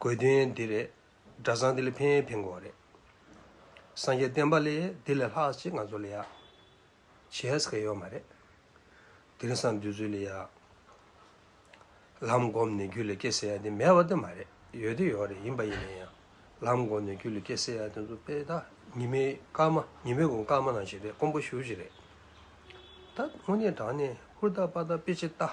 དགོས་དོན་འདི་རེད། སྒྲ་བཟང་དེ་ལས་ཕན་ཕན་དགོས་བ་རེད། སངས་རྒྱས་བསྟན་པ་ལས་དེ་ལས་ལྷག་ཅིག་ང་ཚོ་ལ་ཡག། བྱས་ཟེར་ཡོད་མ་རེད། དེང་སང་འདི་ཚོའི་ལས་ཡག། ལམ་བསྒོམས་ནས་རྒྱུད་ལ་སྐྱེ་ཟེར་ཡག་དེ་མེད་བ་དེ་མ་རེད། ཡོད་དེ་ཡོད་རེད་ཡིན་པ་ཡིན་ན་ཡང། ལམ་བསྒོམས་ནས་རྒྱུད་ལ་སྐྱེ་ཟེར་ཡག་དེ་ཚོ་དཔེ་ད་ཉི་མའི་སྐར་མ་ཉི་མའི་གོང་སྐར་མ་ནང་ཞིག་རེད་ཀོང་པོ་ཞུ་ཞིག་རེད། ད་དངོས་གནས་དྲང་གནས་ཧུར་ཐག་པར་ཐག་དཔེ་ཆེ་ལྟ།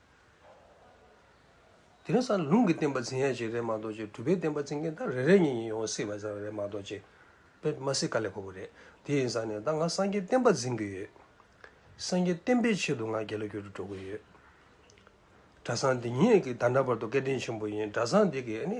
དེ་ནས་སང་ལུང་གི་བསྟན་པ་འཛིན་ཡ་གཅིག་རེད་མ་གཏོགས་ཅི་གྲུབ་པའི་བསྟན་པ་འཛིན་མཁན་ད་རེ་རེ་གཉིས་གཉིས་ཡོང་སྲིད་པ་ཙམ་རེད་མ་གཏོགས་ཅི། དཔེར་མ་སྲིད་ག་ལས་ཁོ་བོ་རེད་དེ་ཡིན་ཙང་ནས་ད་ང་སངས་རྒྱས་བསྟན་པ་འཛིན་གི་ཡོད། སངས་རྒྱས་བསྟན་པའི་ཆེད་དུ་ང་རྒྱལ་ལོ་རྒྱུར་དུ་འགྲོ་གི་ཡོད། གྲྭ་ཚང་འདི་ཉིད་ཀྱི་ད་ན་བར་དུ་སྐད་འཕྲིན་ཆེན་པོ་ཡིན་གྲྭ་ཚང་འདི་གི་ཨ་ནི།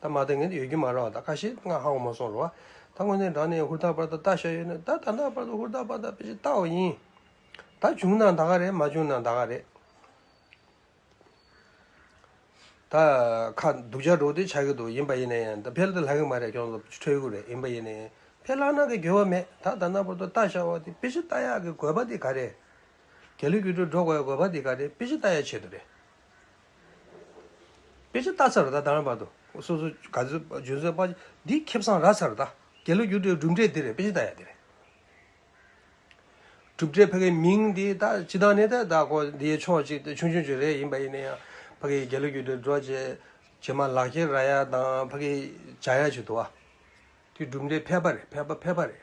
ད་མ་ད་ངན་དུ་ཡོད་རྒྱུ་མ་རང་ད་ཁ་ཤེས་ང་ཧ་གོ་མ་སོང་རོ། ད་དངོས་གནས་འགྲང་ནས་ཧུར་ཐག་པར་ད་ད་ཤ་ཡོད་ནས་ད་ད་ནག་པར་ད་ཧུར་ཐག་པར་ད་པེ་ཅིན་ལྟ་བ་ཡིན། ད་བྱུང་ན་ད་ག་རེད་མ་བྱུང་ན་ད་ག་རེད། ད་ཁ་སྡུག་ཅག་འགྲོ་དེ་ཆགས་ཀྱི་འདུག་ཡིན་པ་ཡིན་ན་ཡང་ད་ཕལ་དུ་ལྷག་གི་མ་རེད་ཁྱོད་ཚོ་ཁྲེལ་ཡོད་རེད་ཡིན་པ་ཡིན་ན་ཡང་ཕལ་ལྷག་ན་གི་འགྱོད་བ་མེད་ད་ད་ནག་པར་ད་ལྟ་ཤ་བ་དེ་པེ་ཅིན་ལྟ་ཡག་གི་དགོས་པ་དེ་ག་རེད། རྒྱ་ལུས་ཀྱི་འགྲོ་ག་ཡག་དགོས་པ་དེ་ག་རེད་པེ་ཅིན་ལྟ་ཡག་ཆེད་དུ་རེད། དཔེ་ཆ་བལྟ་ཚར་བ་དང་དང་བར་དུ། སོ་སོ་ག་ཚོད་བརྗོད་ཚོད་དཔག། འདི་ཁེབས་སང་རག་ཚར་བ་དང། རྒྱལ་ལོ་རྒྱུགས་འབྲས་གྲུབ་འབྲས་འདི་རེད་དཔེ་ཆ་བལྟ་ཡག་འདི་རེད། གྲུབ་འབྲས་ཕ་གི་མིང་འདི་ད་ཅི་ད་ནས་ད་ད་ཀོ་འདིའི་ཕྱོགས་ཅིག་ཆུང་ཆུང་ཅིག་རེད་ཡིན་པ་ཡིན་ན་ཡང་ཕ་གི་རྒྱལ་ལོ་རྒྱུགས་འབྲས་འགྲོ་བྱེད་བྱེད་མ་ལག་ཁྱེར་ར་ཡ་དང་ཕ་གི་བྱ་ཡ་བྱེད་དུ་བ། འདི་གྲུབ་འབྲས་ཕལ་པ་རེད་ཕལ་པ་ཕལ་པ་རེད།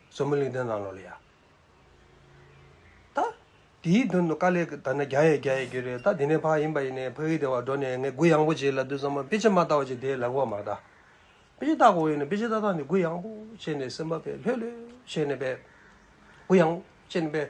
བཟོ་མོ་གླིང་སྟོན་གླང་ལོ་ལ་ཡ། ད། དེའི་དོན་དུ་དཀའ་ལས་ད་ནི་རྒྱ་ཡས་རྒྱ་ཡས་རྒྱུ་རེད་ད་དེ་ནས་ཕ་ཡིན་པ་ཡིན་ནས་ཕ་ཡུལ་སྡེ་བར་འགྲོ་ནས་ངས་གུ་ཡངས་པོ་བྱས་ལ་དུས་ཚང་མ་དཔེ་ཆ་མ་བལྟ་བ་བྱས་དེའི་ལག་པ་མ་བལྟ། དཔེ་ཆ་བལྟ་གོ་ཡིན་ནས་དཔེ་ཆ་བལྟ་བལྟ་ནས་གུ་ཡངས་པོ་བྱས་ནས་སེམས་པ་བས་ལྷོད་ལྷོད་བྱས་ནས་བས། གུ་ཡངས་བོ་བྱས་ནས་བས།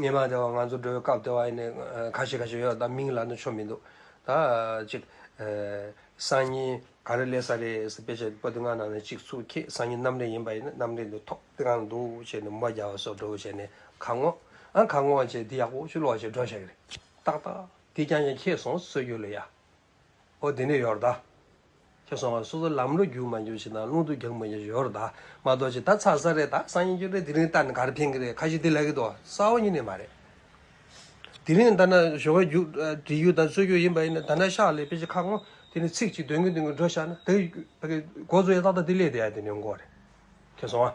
ཉེས་པ་དེ་བ་ང་ཚོ་འགྲོ་བའི་སྐབས་དེ་བ་ཡིན་ནས་ཁ་ཤས་ཁ་ཤས་ཡོད་ད་མིང་ལ་ནི་ཆོ་མི་འདུག་ད་ཅིག། སང་ཉིན་ག་རེ་ལས་ས་རེད་ཟེར་དཔེ་ཆ་པོ་ཏི་ང་ནང་ནས་ཅིག་ཚུགས་ཁྱེད་སང་ཉིན་གནམ་རི་ཡིན་པ་ཡིན་ན་གནམ་རི་འདི་ཐོག་ཏི་གང་འདུག་བྱས་ནས་མོ་རྒྱ་བ་སོགས་འགྲོ་བ་བྱས་ནས་ག་ངོ། ཨ་ག་ངོ་བྱས་འདི་ཡག་པོ་ཆུ་ལོག་བྱས་འགྲོ་བྱས་ཀྱི་རེད་ཏག་ཏག་དེ་རྐྱང་རྐྱང་ཁྱེད་སོང་ཟོས་རྒྱུ་ལ་ཡ། ཨོ་དེ་ནས་ཡོར་དཱ། ཁྱོད་སོང་བ་སོ་སོ་ལམ་ལོ་རྒྱུག་མ་འགྱུར་ཞིག་དང་རླུང་དུ་རྒྱག་མ་འགྱུར་ཞིག་ཡོར་དཱ། མ་གཏོགས་ཅི་ད་ཚ་ས་རེད་ད་སང་ཉིན་ཅིག་རེད་དེ་རིང་ལྟར་ནི་ག་རེ་ཕན་གི་རེད་ཁ་ཞིག་དེ་ལས་ཀི་འདུག་ས་འོག་ཉིད་ནས་མ་རེད། དེ་རིང་ལྟར་ན་ཞོ་ག་རྒྱུག་བྲིས་རྒྱུ་དང་རྩོད་རྒྱུ་ཡིན་པ་ཡིན་ན་ད་ནས་ཤག་ལས་དཔེ་ཅིག་ཁ་སྔོ་དེ་ནས་ཚིག་ཅིག་འདོན་གིན་འདོན་གིན་འགྲོ་ཤག་ན་དེ་གི་འགོ་གཙོ་ཡ་ཏག་ཏག་དེ་ལས་དེ་ཡ་དེ་ནས་འགོ་རེད། ཁྱོད་སོང་བ།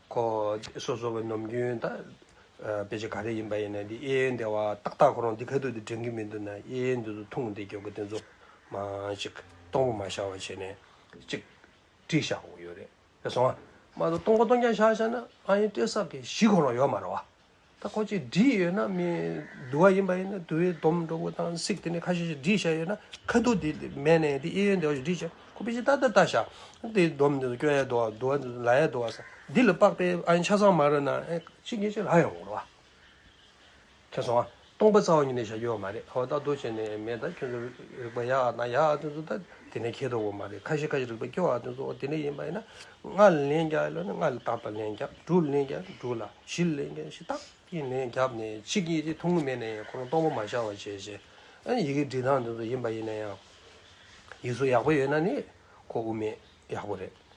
ཁོ་སོ་སོ་བའི་ནོམ་རྒྱུན་ད་དཔེ་ཆ་ག་རེ་ཡིན་པ་ཡིན་ན་འདི་གཡས་གཡོན་བདེ་བ་ཏག་ཏག་ཁོ་རང་འདི་ཁ་ཐུག་དུ་དྲན་གི་མི་འདུག་ན་གཡས་གཡོན་འདི་ཚོ་ཐུང་དེ་སྐྱོ་གི་དེ་ཚོ་མ་ཅིག་སྟོང་པ་མ་ཤར་བ་བྱས་ནས་ཅིག་བཀྲིས་ཤག་ཡོད་རེད་བཟང་བ། མ་གཏོགས་སྟོང་པ་སྟོང་རྐྱང་ཤར་ཤར་ན་ཨ་ཡེ་སྤྲེལ་ཟག་གི་གཞི་ཁོ་རང་ཡོད་མ་རེད་བ། ད་ཁོ་ཅིག་བསྒྲིགས་ཡོད་ན་མི་བསྡུ་བ་ཡིན་པ་ཡིན་ན་དུ་བའི་སྡོམ་འགྲོ་དགོས་དང་སིག་དེ་ནས་ཁ་ཤས་ཤིག་བསྒྲིགས་བཞག་ཡོད་ན་ཁ་སྡུག་དེ་མེད་ནས་དེ་གཡས་གཡོན་དེ་བ་ཞིག་བསྒྲིགས་བཞག་ཁོ་པེ་ཅིན་ཏ་ཏ་ལྟ་བཞག་དེ་སྡོམ་འདི་སྐྱོ་ཡ་བསྡུ་བ་བསྡུ་བ་འདི་ལ་ཡ་བསྡུ་བ་སང་འདི་ལ་དཔག་པའི་ཨ་ཡིན་ཆ་ཚང་མ་རོ་ན་ཨེ་ཅིག་ངེ་ཅིག་ལ་ཡོང་རོགས་ཨ། ཁྱེད་སོང་ཨ། སྟོང་པ་རྩ་བ་ཉིད་ནས་བྱ་རྒྱུ་བ་མ་རེད་ཨོ་ད་དུ་བྱས་ནས་མེད་ད་ཁྱོད་ཚོ་རིག་པ་ཡག་ན་ཡག་ཨ་དོན་ཚོ་ད་དེ་ནས་ཁྱེད་དོ་བོ་མ་རེད་ཁ་ཤས་ཁ་ཤས་རིག་པ་སྐྱོ་ཨ་དོན་ཚོ་ཨོ་དེ་ནས་ཡིན་པ་ཡིན་ན་ལྔ་ལ་ལན་རྒྱག་ཡོད་ལ་ནི་ལྔ་ལ་རྟག་རྟག་ལན་རྒྱབ་དྲུག་ལ་ལན་རྒྱག་ཡོད་ན་དྲུག་ལ་བཞི་ལ་ལན་རྒྱག་ཡོད་ན་བཞི་རྟག་གིས་ལན་རྒྱབ་ནས་གཅིག་གིས་ཅིག་ཐུགས་ངུ་མེད་ན་ཡང་ཁོ་རང་སྟོང་པ་མ་ཤར་བ་བྱས་བྱས་ཨ་ཡི་གེ་འབྲི་སྟངས་དོན་ཚོ་ཡིན་པ་ཡིན་ན་ཡང་ཡིག་གཟུགས་ཡག་པོ་ཡོད་ན་ནི་ཁོ་དབུ་མེད་ཡག་པོ་རེད།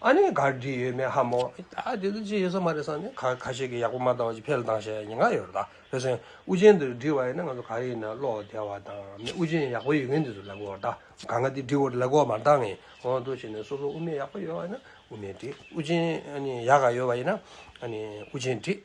ཨ་ནི་གར་བསྒྲིགས་ཡོད་མེད་ཧ་མོ། ད་དེ་ཚོ་ཅི་ཡོད་ས་མ་རེད་བསམ་ནས་ག་ཁ་ཤས་ཀྱིས་ཡག་པོ་མ་བཏང་བ་ཅིག་ཕེལ་བཏང་བྱས་ཉེན་ཁ་ཡོད་རེད་ད་བེ་སེམས་དབུ་ཅན་དུ་བསྒྲིགས་བ་ཡིན་ན་ང་ཚོ་ག་རེ་ཡིན་ན་བློ་བདེ་བ་དང་མི་དབུ་ཅན་ཡག་པོ་ཡོད་མཁན་དེ་ཚོ་ལེགས་པོར་ད་ག་ང་དེ་བསྒྲིགས་བོར་ལེགས་པོར་མ་བཏང་ངེས་གོང་དུ་བྱས་ནས་སོ་སོ་དབུ་མེད་ཡག་པོ་ཡོད་བ་ཡིན་ན་དབུ་མེད་བསྒྲིགས་དབུ་ཅན་ཨ་ནི་ཡག་ག་ཡོད་བ་ཡིན་ན་ཨ་ནི་དབུ་ཅན་བསྒྲིགས།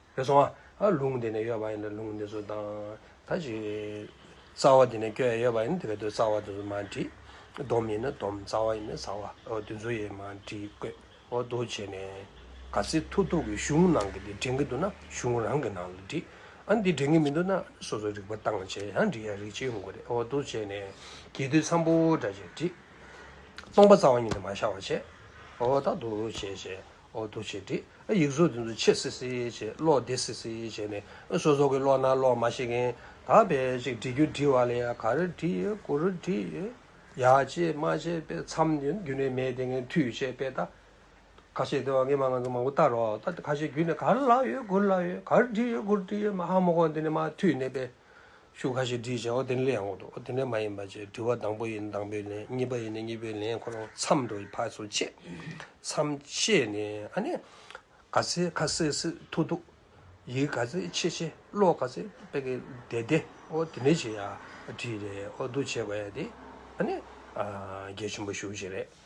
བས་སོང་བ། ལུང་དེ་ནས་གཡོས་པ་ཡིན་ལ་ལུང་དེ་ཚོ་དང། ད་ཅི། རྩ་བ་དེ་ནས་གཡོས་ཡོད་པ་ཡིན་ན་དེ་ག་དུས་རྩ་བ་དེ་ཚོ་མ་བྲིས། སྡོམ་ཡིན་ན་སྡོམ་རྩ་བ་ཡིན་ན་རྩ་བ་དེ་ཚོ་ཡིས་མ་བྲིས་བཀོད། འོ་དོ་བྱས་ནས། ག་ཚེ་ཐུག་ཐུག་གི་གཞུང་ནང་གི་དེ་དྲན་གི་འདུག་ན་གཞུང་རང་གི་ནང་ལ་བྲིས། ཨ་འདི་དྲན་གི་མི་འདུག་ན་སོ་སོ་རིག་པ་བཏང་བྱས་ཡང་འབྲི་ཡ་རིག་བྱེད་ཡོང་གི་རེད་འོ་དོ་བྱས་ནས། གྱེས་དུས་ཚངས་པོ་འདྲ་བྱས་བྲིས། སྟོང་པ་རྩ་བ་ཉིད་དུ་མ་ཤར་བ་བྱས། འོ་ད་དོ་བྱས་བྱས། འོག་ཏུ་བྱས་ཏེ། ཡིག་གཟུགས་དེ་ཚོ་ཕྱེ་སིལ་སིལ་བྱས། གློག་བདེ་སིལ་སིལ་བྱས་ནས། སོ་སོ་གི་བློ་སྣ་གློག་མ་ཞིག་གིས། དག་པའི་ཅིག་བྲིས་རྒྱུ་བྲིས་བ་ལས་ཡང་ག་རེ་བྲིས། གུ་རུ་བྲིས། ཡག་བྱས་མ་བྱས་དཔེ་མཚམས་རྒྱུན་ནས་མེད་དེ་ངས་མཐུས་བྱས་དཔེ་ལྟ། ཁ་ཤས་དེ་བ་ངས་མ་ང་ཚོ་མང་པོ་བལྟ་རོགས་ལྟ་ཁ་ཤས་རྒྱུན་ནས་ག་རེ་བཀླགས་ཡོད་གུ་རུ་བཀླགས་ཡོད་ག་རེ་བྲིས་ཡོད་གུ་རུ་བྲིས་ཡོད་མ་ཧ་མོ་ཁོང་དེ་ནས་མ་མཐུས་ནས་དཔེ། ཤུགས་ཁ་ཤས་བྲིས་བྱའོ་དེ་ནས་ལན་འོག་ཏུ་ཨོ་དེ་ནས་མ་ཡིན་པ་ཅེས་དྲི་བ་དང་པོ་ཡིན་དང་པོའི་ལན་གཉིས་པ་ཡིན་ནས་གཉིས་པའི་ལན་ཁོ་རང་མཚམས་འདྲོགས་ཀྱི་ཕར་ཚུར་ཕྱེས། མཚམས་ཕྱེས་ནས་ཨ་ནི། ག་ཚེ་ཁ་སེ་སེ་ཐུག་ཐུག། ཡིག་ག་ཚེ་ཆེ་ཆེ་ཀློག་ག་ཚེ་དཔེ་ག་བདེ་བདེ་ཨོ་དེ་ནས་ཅེས་ཡ་བྲིས་རེད་ཨོ་འདུག་བྱས་པ་ཡ་དེ་ཨ་ནི། རྒྱལ་ཆེན་པོ་བཞུགས་བྱས་རེད།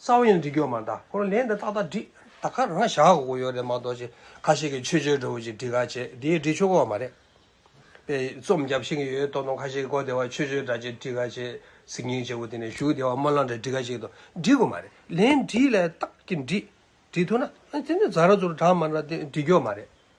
རྩ་བ་ཡང་འདྲི་རྒྱུ་མ་འདའ་ཁོང་ལན་དེ་ཏག་ཏག་འདྲི་ད་ཁ་རང་བཞག་དགོས་ཡོད་རེད་མ་གཏོགས་ཅི་ཁ་ཤས་ཀྱི་ཆོས་བྱེད་འགྲོ་བོ་ཅིག་འདྲི་ག་བྱེད་དེའི་འདྲི་ཆོ་ག་བ་མ་རེད་པས་རྩོམ་བརྒྱབ་བཞིན་གྱི་ཡོད་ཏོག་ནོག་ཁ་ཤས་ཀྱི་གོ་བདེ་བ་ཆོས་བྱེད་འདྲ་ཅིག་འདྲི་ག་བྱེད་ཟིག་ཉིན་བྱེད་པོ་དེ་ནས་ཞུགས་བདེ་བ་སྨོན་ལམ་འདྲ་འདྲི་ག་བྱེད་དོ་འདྲི་དགོས་མ་རེད་ལན་འདྲི་ལ་ཏག་གི་འདྲི་འདྲི་ཐུབ་ན་དེ་ནི་རྫ་ར་ཚུར་གྲགས་མ་འདྲ་འདྲི་རྒྱུ་མ་རེད།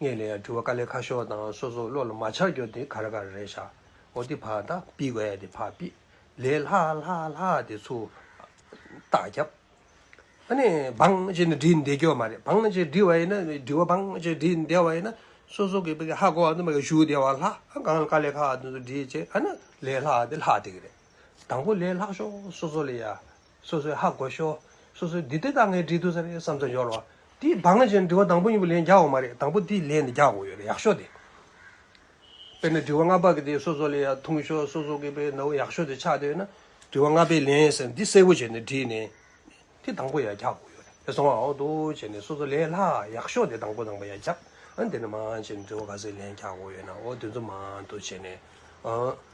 ངས་ལན་ཡང་དྲི་བ་དཀའ་ལས་ཁ་ཤོ་དང་སོ་སོ་བློ་ལ་མ་ཆགས་རྒྱོ་དེ་ག་ར་ག་ར་རེད་ཤག་འོ་དེ་བྷ་ད་པི་བྷ་དེ་བྷ་པི་ལས་ལྷ་ལྷ་ལྷ་དེ་ཚུ་རྟགས་རྒྱབ་ཨ་ནི་བང་ཅེ་ནི་བྲིས་འདེད་རྒྱོ་མ་རེད་བང་ཅེ་བྲིས་བ་ཡིན་ན་དྲི་བ་བང་ཅེ་བྲིས་འདེད་བ་ཡིན་ན་སོ་སོ་གི་ཧ་གོ་བ་དུ་མ་གི་ཞུ་བདེ་བ་ལྷ་གང་དཀའ་ལས་ཁ་དུ་འདྲིས་བྱེད་ཨ་ནི་ལས་ལྷ་དེ་ལྷ་དེ་གི་རེད་དང་པོ་ལས་ལྷག་ཤོ་སོ་སོ་ལས་ཡ། སོ་སོའི་ཧ་གོ་ཤོག། སོ་སོའི་འདི་དེ་དག་ངས་བྲིས་འདུག་ཟེར་བསམ་ཚུལ་འཇོག་རོགས། དེའི་བག་ངན་ཆེ་ན་དྲི་བ་དང་པོ་གཉིས་པོ་ལན་རྒྱག་འོ་མ་རེད་དང་པོ་དེའི་ལན་ནི་རྒྱག་འོ་ཡོད་རེད་ཡག་ཤོག་དེ། དཔེར་ན་དྲི་བ་ལྔ་པ་གི་དེ་སོ་སོ་ལས་ཡག་འཐུང་ཤོག་སོ་སོ་གི་དཔེ་ནའོ་ཡག་ཤོག་དེ་ཆགས་འདོད་ན། དྲི་བ་ལྔ་པའི་ལན་ཟེར་ན་འདི་གསལ་བོ་བྱས་ནས་བྲིས་ནས། དེ་དང་པོ་ཡང་རྒྱག་འོ་ཡོད་རེད་དེ་སོང་བ་འོ་དོ་བྱས་ནས་སོ་སོ་ལས་ལྷག་ཡག་ཤོག་དེ་དང་པོ་དང་པོ་ཡང་རྒྱག་འོ་འདི་ནི་མང་བྱས་ནས་དྲི་བ་ག་ཚོད་ལན་རྒྱག་འོ་ཡོད་ན་འོ་དེ་ཚོ་མང་དུ་བྱས་ནས།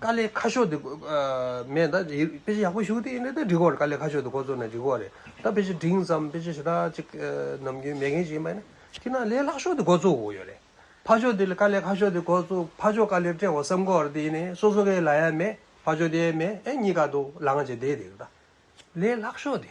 དཀའ་ལས་ཁ་ཤོ་དེ་མེད་ད་དཔེ་ཆ་ཡག་པོ་ཞུ་དེ་ཡིན་དེ་འགྲིག་གོ་དཀའ་ལས་ཁ་ཤོ་དེ་ཁོ་ཚོ་ནས་འགྲིག་གོ་རེད་ད་དཔེ་ཆ་འབྲིང་ཙམ་དཔེ་ཆ་ཞེ་དྲག་ཅིག་ནམ་རྒྱུན་མེད་མཁན་ཞིག་ཡིན་པ་ཡིན་ན་དེ་ན་ལས་ལྷག་ཤོ་དེ་འགོ་བཙུག་གོ་ཡོད་རེད་ཕ་ཆོ་དེ་ལས་དཀའ་ལས་ཁ་ཤོ་དེ་འགོ་བཙུག་ཕ་ཆོ་དཀའ་ལས་སྤྲད་གོ་བསམ་གོ་རེད་དེ་ཡིན་ནས་སོ་སོ་གའི་ལ་ཡ་མེད་ཕ་ཆོ་དེ་ཡ་མེད་ཨེ་གཉིས་ཀ་འདུག་ལ་ང་ཅེ་དེ་དེ་རེད་ད་ལས་ལྷག་ཤོ་དེ།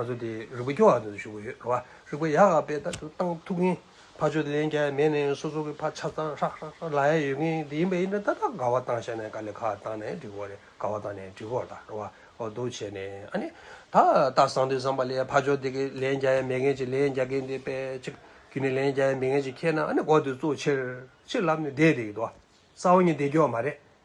ང་ཚོ་དེ་རིག་པ་སྐྱོ་བ་དེ་ཚོ་ཞུགས་ཡོད་རེད་བ་རིག་པ་ཡག་པའི་ད་དུ་ཏང་ཐུགས་མཁན་ཕ་ཆོས་ལེན་རྒྱ་ཡ་མེད་ནས་སོ་སོ་གི་ཕ་ཆ་ཚང་ཧྲག་ཧྲག་ཧྲག་ལ་ཡ་ཡོད་མཁན་དེ་ཡིན་པ་ཡིན་ན་ད་ད་ག་བ་བཏང་ཤ་ནས་ག་ལེ་ཁ་བཏང་ནས་འགྲིག་གོ་རེད་ག་བ་བཏང་ནས་འགྲིག་གོ་ད་རེད་བ་འོ་དོ་བྱས་ནས་ཨ་ནི་ད་ད་བཟང་དུས་བཟང་པ་ལས་ཕ་ཆོས་དེ་གི་ལེན་རྒྱ་ཡ་མེད་མཁན་གྱི་ལེན་རྒྱ་མཁན་དེ་པེ་ཅིག་གི་ནི་ལེན་རྒྱ་ཡ་མེད་མཁན་གྱི་ཁྱེད་ན་ཨ་ནི་གོ་དེ་གཙོ་ཆེར་ཆེར་ལབ་ནས་བསྡད་དེ་ཡོད་དོ་བ་ས་བོ་ཉིད་བསྡད་རྒྱུ་བ་མ་རེད